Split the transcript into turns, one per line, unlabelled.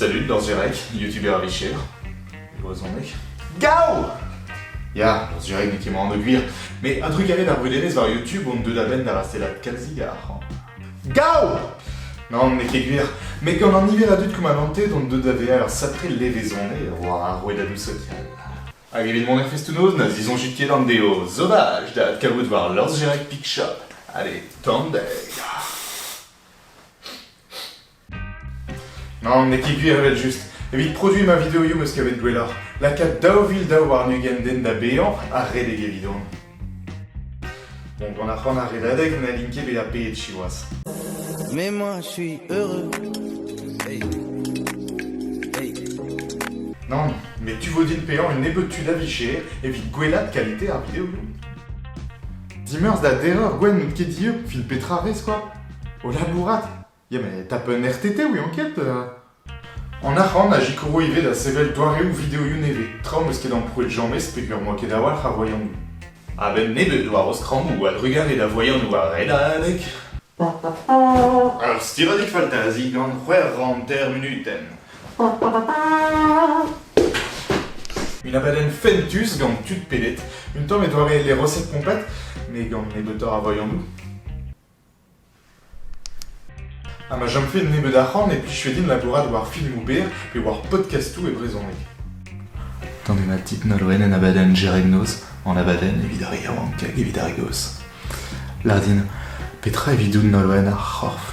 Salut Norzurek, youtubeur a-vicher, e brezhoneg. Gaou Ya, Norzurek n'eo ket moan o gwir, mais un truc arrête ar brudelezh war YouTube, on deu da benn da rastellat kalzik a arc'hant. Gaou Non, n'eo ket gwir, mais gant an niver a dud qu'on m'a vanté, on deu da vezañ ur sacré levezonez war ar rouedadoù social. Hag evit mon effet stunoz, na zizonjit ket an deo, sauvage da adkavout war Norzurek Picshop. Allez, tandeg Nann, n'eo ket gwir evel-just. Evit produiñ ma videoioù 'm eus kavet gwelloc'h, lakaat daou vil daou warn-ugent den da baeañ ha redek evidon. Bon, gant ar c'han ar redadeg n'hallin ket bezañ peet siwazh. Mais moi,
je suis heureux. Hey. Hey.
Nann, mais tu vo din paeañ un nebeud tud a vicher evit gwellaat qualité ar videoioù. Dimeurzh da derreur gwenn n'out ket dieub, fil petra rez quoi? O labourat Ya, mais t'as pas un RTT, oui, enquête euh. En arc'hant a zikoro ivez da sevel doareoù videoioù nevez. Tra m'eus ket amprouet James peger moa ket a-walc'h a voianoù. A-benn neb eo douaroz krammoù a drugarez da voianoù a red adek. Ur stiradig faltazi gant c'hwec'h hanter munutenn. Une abadenn fentus gant tud pedet, un tamm e doare les recettes pompettes, mais gant nebeutoc'h a voianoù. Ha ma chomfe nebeut arc'hant e plijfe din labourat war filmoù berr pe war podkastoù e brezhoneg. Gant ena tit nolwenn en abadenn Jereg Noz, an abadenn evit ar yaouank hag evit ar gaoz. Lardin, petra evidout nolwenn ar c'horf